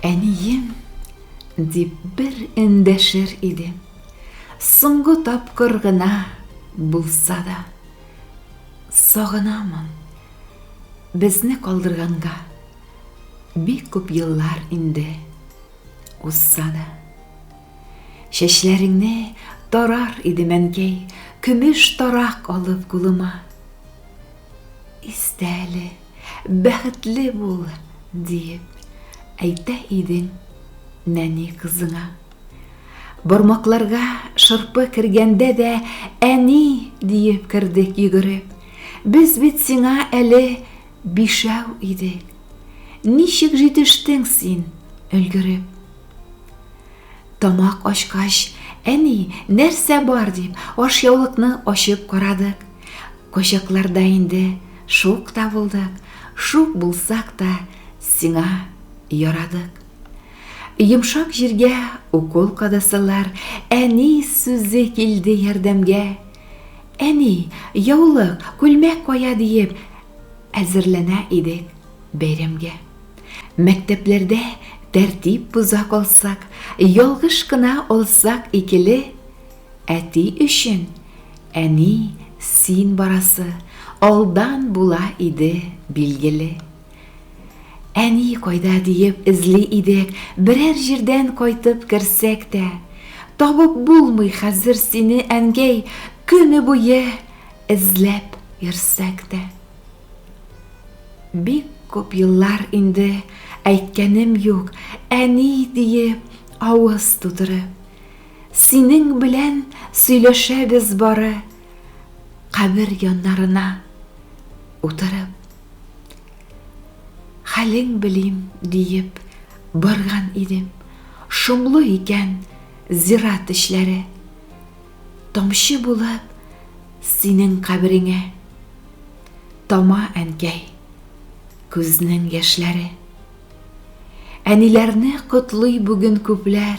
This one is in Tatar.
Әнием, дип бер эндәшер иде. Соңгы тапкыр гына булса да. Сагынамын. Безне калдырганга бик күп еллар инде узса да. Чәчләреңне тарар иде мәнкәй, көмеш тарак алып кулыма. Истәле, бәхетле бул, диеп әйтә идең нәни кызыңа. Бармакларга шырпы кергәндә дә әни диеп кердек йөгереп. Без бит сиңа әле бишәү идек. Ничек җитештең син, өлгереп? Тамак ачкач, әни, нәрсә бар дип, ашъяулыкны ачып карадык. Кочакларда инде шук та булдык, шук булсак та сиңа ярадык. Йомшак җиргә укол кадасалар, әни сүзе килде ярдәмгә. Әни, яулык, күлмәк кая диеп, әзерләнә идек бәйрәмгә. Мәктәпләрдә тәртип боза калсак, ялгыш кына алсак икеле, Әти өчен, Әни, син барасы алдан була иде, билгеле. Әни кайда диеп эзли идек, берәр җирдән кайтып керсәк тә, табып булмый хәзер сине, әнгәй, көне буе эзләп йөрсәк тә. Бик күп еллар инде әйткәнем юк, әни диеп авыз тутырып. Синең белән сөйләшәбез бары кабер яннарына утырып. Хәлең белим диеп барган идем. Шомлы икән зират эчләре. Тамчы булып синең кабереңә тама әнкәй күзнең яшьләре. Әниләрне котлый бүген күпләр.